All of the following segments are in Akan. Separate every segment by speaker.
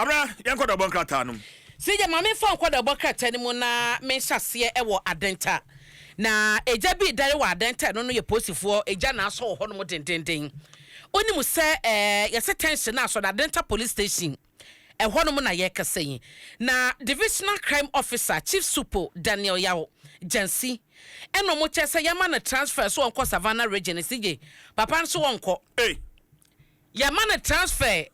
Speaker 1: Abena, yɛn nkɔdɔbɔ nkrataa no mu. CJ, Maame fa
Speaker 2: nkɔdɔbɔ krataa no mu na menhyɛ aseɛ wɔ Adenta. Na agya bi redare wɔ Adenta, ɛno no yɛ polisifoɔ agya na asɔ wɔ hɔnom dendenden. Wonim sɛ ɛɛ yɛse tension no asɔ no Adenta police station, ɛhɔnom na yɛrekasa yi. Na divisional crime officer, Chief Supo Daniel Yaw Gyasi, ɛna wɔn kyerɛ sɛ yɛmma no transfer so ɔnkɔ Savannah region. CJ, papa nso ɔnkɔ. Ei! Yɛama no transfer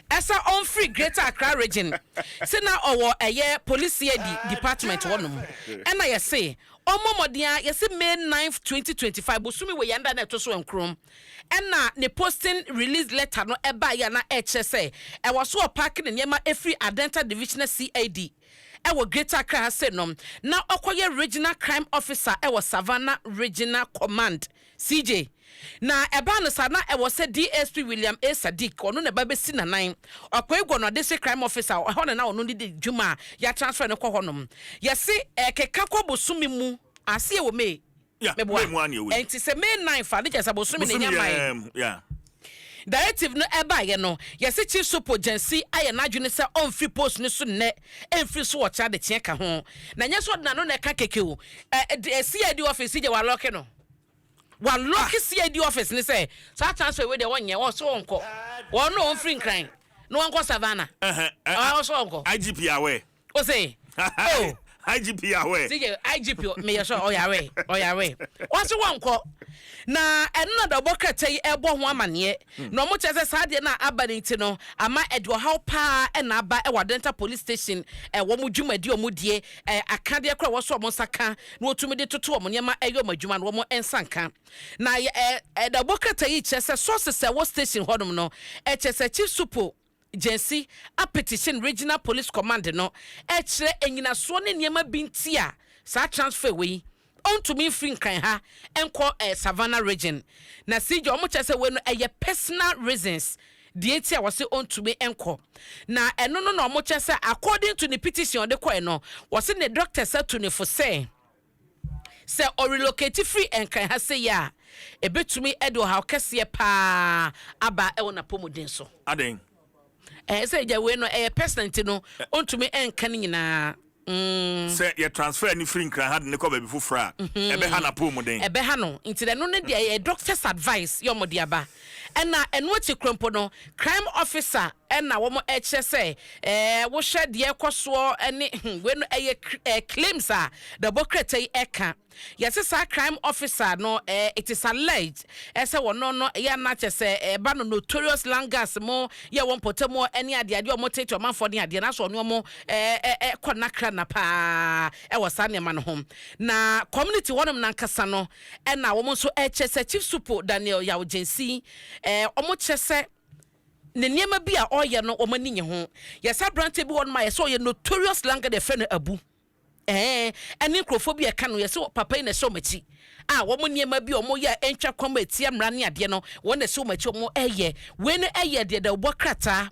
Speaker 2: ɛsɛ ɔnfiri Greater Accra Region se na ɔwɔ ɛyɛ Polisiadi department hɔ nom ɛna yɛse ɔmmɔ mmɔden ara yɛse May ninth twenty twenty five bosome wei ɛnda na ɛto so nkron ɛna ne posting release letter no ɛbaeɛ a na ɛkyerɛ sɛ ɛwɔ so ɔpaake ne nneɛma ɛfiri Adenta Divisional CID ɛwɔ Greater Accra ha se nom na ɔkɔyɛ Regional Crime Officer ɛwɔ Savannah Regional Command. CJ, Na ɛbaa no saa, na ɛwɔ sɛ DSP William A. Sadiq, ɔno na ɛba bɛsi n'anan, Ɔkɔe Gwo no District Crime Office a ɛhɔ na na ɔno ne di dwuma a yɛatransfer no kɔ hɔnom. Yɛse ɛrekeka kɔ bosome mu, aseɛ wɔ May, meboa?
Speaker 1: Ɛnti sɛ
Speaker 2: May nnan fa no kyerɛ sɛ bosome na ɛnya mmae. Directive no ɛbaeɛ no, yɛse Chief Sopo Gyasi ayɛ n'adwene sɛ ɔmfiri post no so nnɛ, ɛmfiri so ɔkyena dekyea ka ho. Na ɛnyɛ sɛ ɔde n'ano na ɛka kɛkɛ o. Ɛ, CID office yi deɛ wɔalɔke no. Wɔalɔke CID office no sɛ saa transfer wei deɛ wɔnyɛ, wɔse ɔnkɔ. Ɔno ɔmfiri Nkran na ɔnkɔ Savannah. Ɔse ɔnkɔ. IGP aware.
Speaker 1: O se,
Speaker 2: oh. IGP yawɛ.
Speaker 1: Se yɛ IGP me
Speaker 2: yɛ sure ɔyawɛ ɔyawɛ. Ɔse wɔnkɔ. Na ɛno na da ɔbɔ krataa yi ɛbɔ ho amaneɛ. Hmm. Na wɔn kyerɛ sɛ saa adeɛ no a aba no nti no ama ɛde ɔhaw paa ɛna aba ɛwɔ Adenta police station ɛwɔ wɔn dwumadi wɔn die ɛ akadeɛ kora ɛwɔ so wɔn nsa ka na wɔtumi de toto wɔn nneɛma ɛyɛ wɔn adwuma no wɔn nsa nka. Na ɛ ɛda ɔbɔ krataa yi kyerɛ sɛ sources ɛwɔ station hɔnom no ɛkyerɛ sɛ Chief Supo Gyasi apetition Regional Police Command no rekyerɛ nnyinasoɔ ne nneɛma bi nti a saa transfer wei ɔntumi mfiri Nkran ha nkɔ Savannah Region. Na CJ wɔkyerɛ sɛ wei no ɛyɛ personal reasons deɛ nti a wɔse ɔntumi nkɔ. Na ɛno no na wɔkyerɛ sɛ according to ne petition a ɔde kɔɛ no wɔse ne doctors atu ne fo sɛ, Sɛ ɔrelokati firi Nkran ha sei a, ɛbɛtumi de ɔhaw kɛseɛ pa ara aba wɔ n'apɔmuden so. Adɛn?
Speaker 1: Ɛɛ, sɛ
Speaker 2: agya wei no, ɛyɛ personal nti no, ɔntumi nka ne nyinaa. Mm. Sɛ
Speaker 1: yɛ transfer no firi Nkran ha de no kɔ baabi foforɔ a, ɛbɛha n'apɔmuden. Ɛbɛha no, nti
Speaker 2: ɛno no deɛ ɛyɛ doctor's advice yɛ wɔde aba. Ɛna ɛno akyi korɔ mpo no, crime officer Ɛna wɔn ɛkyerɛ sɛ ɛɛ wohwɛ deɛ ɛkɔ soɔ ɛne hmm wei no ɛyɛ ɛɛ claims a Dabɔkrata yi ɛka. Yɛse saa crime officer no ɛɛ it is alleged ɛsɛ wɔno no ɛyɛ ana kyɛ sɛ ɛɛba no notorious langas mo yɛ wɔn mpɔtamuɔ ɛne adeɛ adeɛ wɔn tete ɔmanfoɔ ne adeɛ na sɛ ɔne wɔn ɛɛ ɛɛ kɔ nakra na paa ɛwɔ saa nneɛma no ho. Na community hɔ nom nankasa no ɛna wɔn nso ɛkyɛ sɛ Chief Supo Daniel Yaw Gyensii ɛɛ wɔn kyɛ sɛ. ne nneɛma bi a ɔyɛ no wɔn ani nye ho yɛ saa aberanteɛ bi wɔ nom a yɛsɛ ɔyɛ notorious landlord yɛfrɛ no abu ɛɛ ɛne nkurɔfoɔ bi a ɛka no yɛsɛ papa yi na ɛsɛ wɔn akyi a wɔn nneɛma bi a wɔn yɛ a ɛntwa kwan mu ɛtia mmara ne adeɛ no wɔn na ɛsɛ wɔn akyi wɔn ɛyɛ wei no ɛyɛ deɛ deɛ wɔbɔ krataa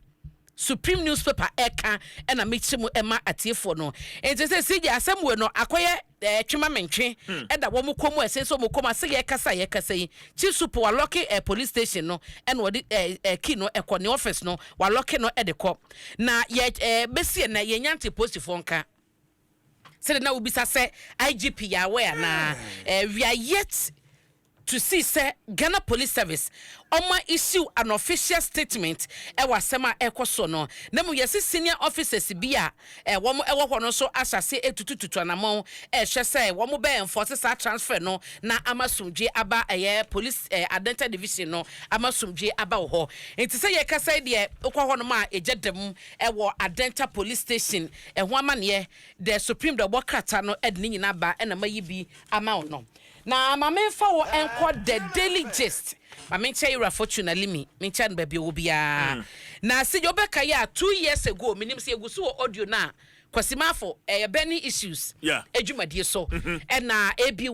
Speaker 2: Supreme newspaper ɛka ɛna mekyerɛ mu ɛma atiefoɔ no nti sɛ si gye asɛm wei no akɔyɛ eh, twe ma mentwe, hmm. ɛda wɔn kɔn mu ɛsen sɛ wɔn kɔn mu ase yɛ kasa yɛ kasa yi kyi so po walɔke eh, police station no ɛna wɔde eh, eh, key no ɛkɔ ne office no walɔke no ɛde kɔ na yɛ eh, bɛsi ɛnɛ yɛ nyante posifoɔ nka sɛde na wobisa sɛ igp yɛ awɛ anaa eh, we are yet to see sɛ Ghana Police Service wɔma issue an official statement wɔ asɛm a ɛrekɔ soɔ no na mmom yɛse senior officers bi a wɔn wɔ hɔ no nso ahyɛ aseɛ retutututu anamɔn rehwɛ sɛ wɔn bɛ enforce saa transfer no na ama asomdwoeɛ aba ɛyɛ Police eh, Adenta Division no ama asomdwoeɛ aba wɔ hɔ nti sɛ yɛkasa yi deɛ wokɔ hɔ nom a ɛgya da mu wɔ Adenta Police Station ɛho amaneɛ the Supreme deɛ ɔbɔ krata no de ne nyinaa ba ɛna mayi bi ama wo no Na ma me nfa wo nkɔ the daily gist ma me nkyɛ yewura fortune alimi me nkyɛ no baabi ɔwɔ biara na sɛ deɛ wobɛka yɛ a two years ago menim sɛ yɛgu so wɔ audio no a kwasi maafo ɛyɛ burning issues adwumadie so ɛna aby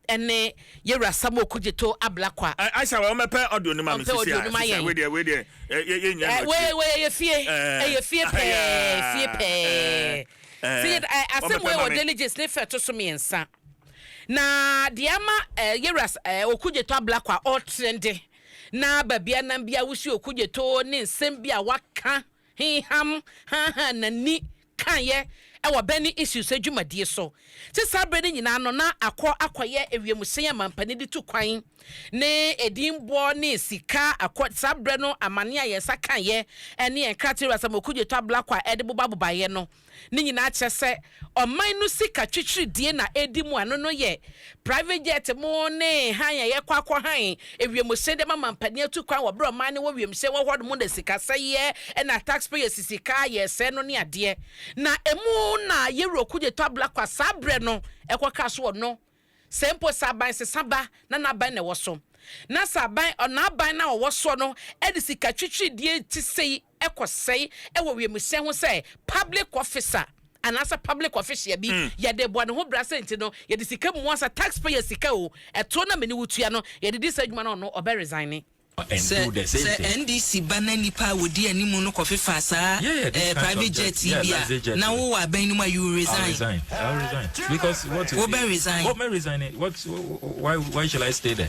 Speaker 2: ɛne yewura samuel kudzeto ablakwa aisa wɔ mɛpɛ
Speaker 1: audio no ma me sisi a sisi a wedeɛ wedeɛ yɛ nyɛ no akyire wɔ ɛyɛ fie
Speaker 2: ɛyɛ fie pɛɛ fie pɛɛ sɛ yɛ asɛm wɔ ɛwɔ diligence ne fɛ to so mmiɛnsa Na deɛ ama eh, Yeras eh, Okudzeto abla kwa ɔtrɛn de, na baabi a nam bia wosi Okudzeto ne nsɛm bi a waka hinham hanhan n'ani kaeɛ ɛwɔ Benin Issues adwumadie so. Te saa berɛ no nyinaa no, na akɔ akɔyɛ ewiemhyɛn a mampanin de tu kwan ne edin boɔ ne sika akɔ. Saa berɛ no amane a yɛn nsa kaeɛ ne yɛn nkrataa Yeras ama Okudzeto abla kwa ɛde bobabobaeɛ no, Ne nyinaa kyerɛ sɛ ɔman no sika twitwiridie na ɛredi mu a ɛno no yɛ private jet mo ne hann a ɛyɛ kɔ akɔ hann ewiemhyɛn de ama mampanin atu kwan wɔ berɛ ɔman no wɔ wiemhyɛn wɔ hɔ nom na sikasɛeɛ na taxpayers sika a yɛresɛe no ne adeɛ na ɛmu na yɛwura kugye tɔ abla kwa saa berɛ no ɛkɔ kaa so wɔ no sɛ mpo sɛ aban sesa ba na n'aban na ɛwɔ so na sɛ aban ɔn'aban na ɔwɔ soɔ no ɛde sika twitwiridie te sei kɔ sɛe wɔ wiemhyɛn ho sɛ public officer anaasɛ public official bi, mm. yɛde bɔ ne ho bra sɛ nti no yɛde sika mu asa taxpayer sika o ɛto na mene wotua no yɛde di saa adwuma no ɔno ɔbɛ resign ne sɛ
Speaker 3: sɛ ndc ba na nipa a
Speaker 4: wɔdi anim no kɔfefa saa eh, private jet yi bi a na wowɔ abɛn no mu a you resign
Speaker 3: wobɛ resign why, why shall i stay there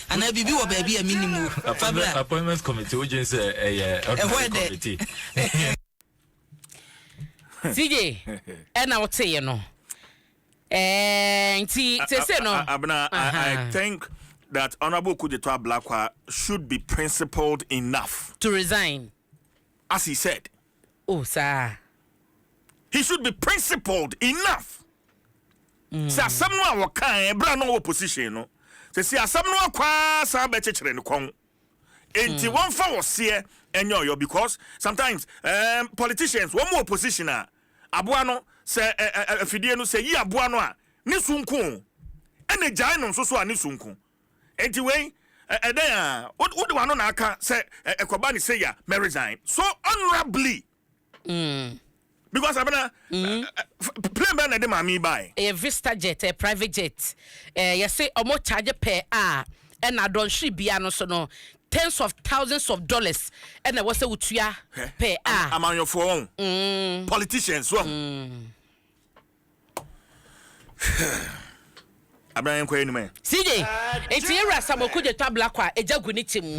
Speaker 4: anaa biribi wɔ baabi a mennim o fa bra appointment
Speaker 3: committee wogye sɛ ɛyɛ ɛhɔ
Speaker 2: ɛdɛ CJ ɛna woteeɛ no eh, nti
Speaker 1: sese no abena I think that honourable Kujeto Ablakwa should be principled enough to resign
Speaker 2: as he
Speaker 1: said Oh, saa a.
Speaker 2: He
Speaker 1: should be principled enough sɛ asɛm no a wɔkaeɛ berɛ a na ɔwɔ position no, seesei asɛm no akɔ ara san bɛkyekyere ne kɔn. Enti wɔmfa ɔseɛ nyɛ ɔyɔ because sometimes um, politicians wɔn wɔ position a aboa no sɛ ɛ, ɛ, afidie no sɛ yi aboa no a ne su nko o, ɛna gyae no nso so a ne su nko. Enti wei ɛ ɛdɛn aa wo wode wano na aka sɛ ɛ ɛkɔba ne sei a mɛ resign so honourably mm because abena mm ɛ ɛ plane bɛn na ɛde maame yi baaɛ. Ɛyɛ vista jet ɛyɛ
Speaker 2: private jet ɛɛ yɛse ɔmo charge pɛ a ɛna dɔnhwere bia no so no tens of thousands of dollars ɛna ɛwɔ sɛ wotua Hwɛ pɛ a ama amanyɔfoɔ wɔn mm
Speaker 1: politicians wɔn. mm. abena yɛnkɔ anim ɛ. CJ, nti
Speaker 2: yɛ wura Samuel Kudje twa black a egya gu ne ti mu.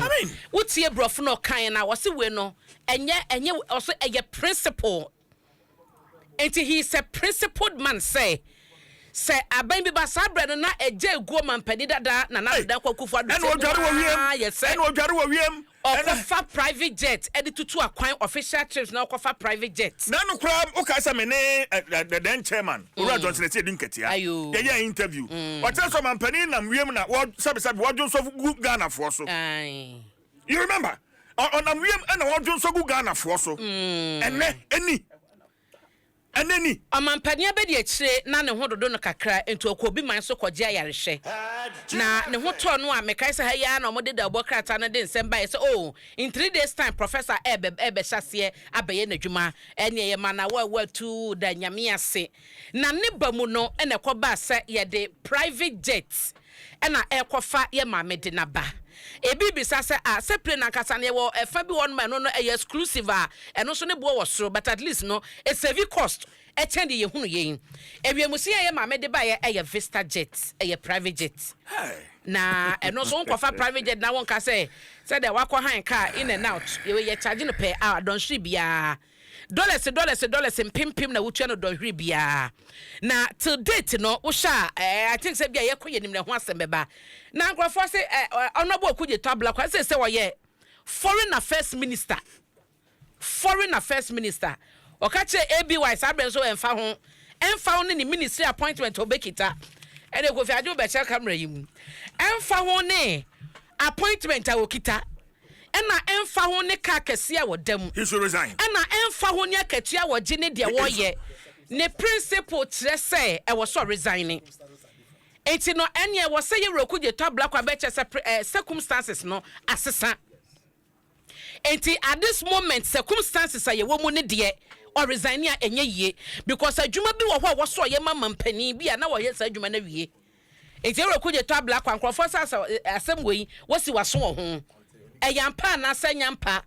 Speaker 2: Wo tie brɔfo na ɔkan na ɔse wei no ɛnyɛ ɛnyɛ ɔse ɛyɛ principle. Nti he is a principled man sɛ sɛ aban bi ba saa brɛ no na egya eguo mampanin dada na na dada kwaku fo adwo sɛ ɛna odware wɔ wiem
Speaker 1: ɛna odware wɔ wiem. Ɔkɔ fa private
Speaker 2: jet de tutu akwan official trips na ɔkɔ fa private jet. Na no koraa wo kae
Speaker 1: sɛ me ne the then chairman owura Johnson Asiedu Nketia yɛ yɛɛ interview ɔkyerɛ sɛ ɔmanpanin nam wiem na wɔ sɛbi sɛbi wɔ dwo nsɔ gu Ghana foɔ so you remember ɔnam wiem na wɔ dwo nsɔ gu Ghana foɔ so ɛnɛ ɛni. Anani. Ɔmampanin
Speaker 2: abadiakyire na ne ho dodo no kakra nti ɔkɔɔ obi man so kɔgye ayarehwɛ. Na ne ho tɔɔ no a mekae sɛ ha yi ara na wɔde dawubɔ krataa no de nsɛm baeɛ sɛ oh, in three days time Professor ɛrebɛ ɛrebɛhyɛ aseɛ abɛyɛ n'adwuma. Ɛnneɛ yɛmaa no awoawoa tuu da Nyame ase. Na ne ba mu no na ɛkɔbaa sɛ yɛde private jet na ɛrekɔfa yɛ maame de no aba. Ebi bisa sɛ, ah, sɛ plane ankasa no, yɛwɔ ɛfa bi wɔ hɔnom a ɛno no ɛyɛ exclusive a, ɛno nso ne boɔ wɔ soro, but at least no, esevi cost kyɛn deɛ yɛhunu yei. Ɛwiemhyɛn a yɛ maame de baeɛ ɛyɛ Vista Jet, ɛyɛ private jet. Na ɛno nso wonkɔfa private jet na wonka sɛ, sɛdeɛ woakɔ han car in and out, yɛ wei yɛcharge no per hour, dɔnhwere biara. Dɔlɛse dɔlɛse dɔlɛse mpempem na wotua no dɔnhwere biara. Na till date no wohwɛ a eh, I think sɛ bia yɛkɔ yɛnim na ɛho asɛm bɛba. Na nkurɔfoɔ se eh, eh, Honourable Okudzeto Ablakwa ɛsɛ sɛ ɔyɛ foreign affairs minister. Foreign affairs minister. Ɔka kyerɛ ABY saa berɛ nso ɛmfa ho. Ɛmfa ho ne ne ministry appointment a ɔbɛkita. Ɛne Kofi Adjo bɛkyɛ camera yi mu. Ɛmfa ho ne appointment a ɔkita. Ɛna ɛmfa ho ne car kɛseɛ a ɔda mu. He should resign. Ɛna
Speaker 1: ɛmfa ho ne
Speaker 2: akatua a ɔgye ne deɛ ɔyɛ. Ne principle kyerɛ sɛ ɛwɔ sɛ ɔresign. Nti no ɛneɛ ɛwɔ sɛ yɛwura kugye tɔ abla kwa bɛkyɛ sɛ pre eh, circumstances no asesa. Nti at this moment circumstances a yɛwɔ mu ne deɛ ɔresign a ɛnyɛ yie because adwuma bi wɔ hɔ a ɛwɔ sɛ ɔyɛ ma mampanin bi a na ɔyɛ saa adwuma no awie. Enti ɛwɔ Kudje Tabla kwa nkurɔfoɔ sɛ asɛ asɛm wei wosi w'aso wɔ ho? Ɛyɛ ampa anaa sɛ ɛnyɛ ampa?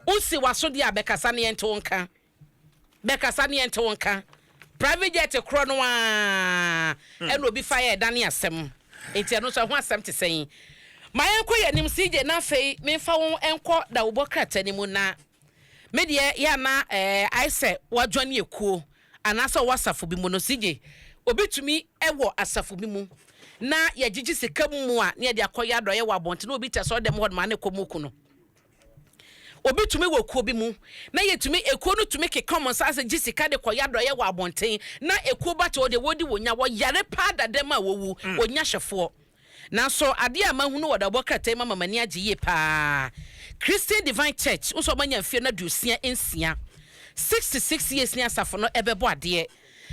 Speaker 2: Wosi w'aso deɛ a bɛkasa na yɛnte wo nka. Bɛkasa na yɛnte wo nka. Private jet korɔ no ara ɛna obi fa yɛ ɛdane asɛm. Enti ɛno nso ɛho asɛm te sɛn? Ma yɛnkɔ yɛn anim CJ na afei memfa wo nkɔ dawobɔ krataa no mu na Me deɛ yɛ a na ɛɛ ayɛ sɛ woadwane ekuo anaasɛ ɔwɔ asafo bi mu no CJ obi tumi wɔ asafo bi mu na yɛgyegye sika mu mu a na yɛde akɔ yɛ adɔeɛ wɔ abɔnten na obi te asɔre dɛm hɔ nom a na ɛkɔm ku no obi tumi wɔ kuo bi mu na yɛtumi ekuo no tumi keka wɔn nsa ase gye sika de kɔ yɛ adɔeɛ wɔ abɔnten na ekuo ba te hɔ deɛ wɔdi wɔnya wɔyare paa da dɛm a wɔwu wɔnya hwɛfoɔ. Nanso adeɛ a mahunu wɔ adawɔbɔ krataa yi mu ama m'ani agye yie pa ara. Christian Divine Church nso a wɔanya mfeɛ no aduosia nsia, sixty six years, ne asafo no rebɛbɔ adeɛ.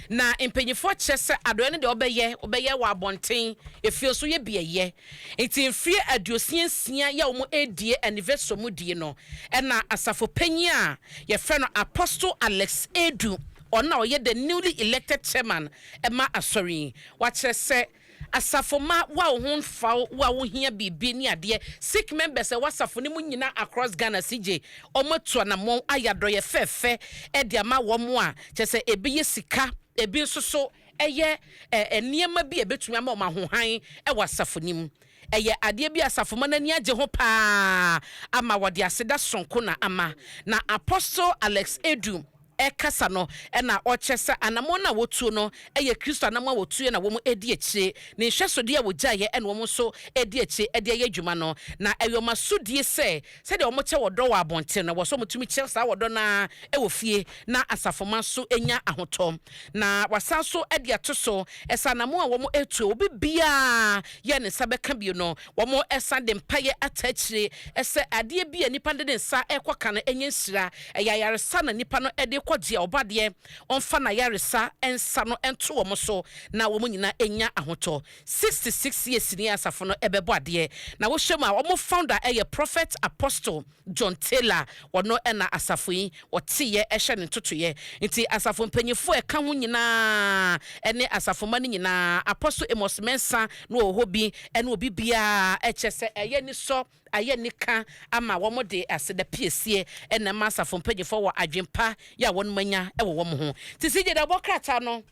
Speaker 2: Na mpanimfoɔ kyerɛ sɛ adɔeɛ no deɛ wɔbɛyɛ, wɔbɛyɛ wɔ abɔnten, efie nso yɛ beaeɛ. Nti mfeɛ aduosia nsia yi a wɔredie anniversary wɔn die no, ɛna asafo panyin a wɔfrɛ no Apostle Alex Edu, ɔno na ɔyɛ the newly elected chairman ma asɔre yi, wakyerɛ sɛ, Asafo mma woa wo ho nfa wo woa wo hia biribi ne adeɛ sikh members ɛwɔ asafo no mu nyina across Ghana sigye ɔmo atu anamɔn ayɛ adɔyɛ fɛfɛ ɛde ama wɔn a kyɛ sɛ ebi yɛ sika ebi nso so ɛyɛ ɛɛ nneɛma bi a ɛbɛtumi ama wɔn ahohan ɛwɔ asafo no mu ɛyɛ adeɛ bi a asafo mma no ani agye ho paa ama wɔde aseda sonko na ama na Apostle Alex Adu ɛkasa no na ɔkyerɛ sɛ anamɔn no a wɔtuo no yɛ Kristo anamɔn a wɔtuiɛ na wɔn di akyire, Ne nhwɛsodeɛ a wɔgyaeɛ na wɔn nso di akyire de ayɛ adwuma no. Na ɛyɛ wɔn asodie sɛ sɛdeɛ wɔkyɛ ɔdɔ wɔ abɔnten no, ɛwɔ sɛ wɔtumi kyɛ saa ɔdɔ no ara wɔ fie na asafomma nso nya ahotɔ. Na wɔasan nso de ato so sɛ anamɔn a wɔatuo a obi biara yɛ ne nsa bɛka bio no, Wɔsan de mpaeɛ ataa akyire sɛ adeɛ bi a nipa no de ne nsa rekɔ ka no nyɛ nhyira. Ɛyɛ ayaresa na nipa no de rekɔ gye a ɔbɔ adeɛ. Ɔmfa n'ayaresa nsa no nto wɔn so na wɔn nyinaa nya ahotɔ. Sixty six years ni a asafo no bɛbɔ adeɛ. Na wohwɛ mu a wɔn founder yɛ Prophet Apostle. John Taylor a ɔno na asafo yi ɔteeɛ hyɛ ne ntotoeɛ. Nti asafo mpanyimfoɔ a ɛka ho nyinaa ne asafomma no nyinaa, Apostle Amos Mensah na ɔwɔ hɔ bi ne obi biara, kyerɛ sɛ ɛyɛ anisɔ, ayɛ anika ama wɔn de aseda piesie na ɛma asafo mpanyimfoɔ wɔ adwene pa yɛ a wɔn anya wɔ wɔn ho. Nti CJD abɔ krataa no.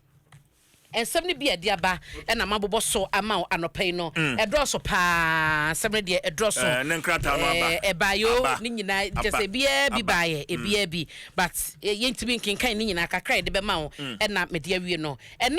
Speaker 2: Nsɛm no bi a ɛde aba na mabobɔ so ama wo anɔpa yi no, ɛdɔɔso pa ara. Nsɛm no deɛ, ɛdɔɔso. Ɛɛ, ne nkrataa no aba. Ɛɛ,
Speaker 1: ɛbaeɛ o, Aba. ne nyinaa,
Speaker 2: Aba. kyerɛ sɛ ebiara bi Aba. baeɛ, ebiara bi. But, yɛ- yɛntumi nkenkan ne nyinaa, kakra a yɛde bɛma wo na mede awie no. Ɛnnɛ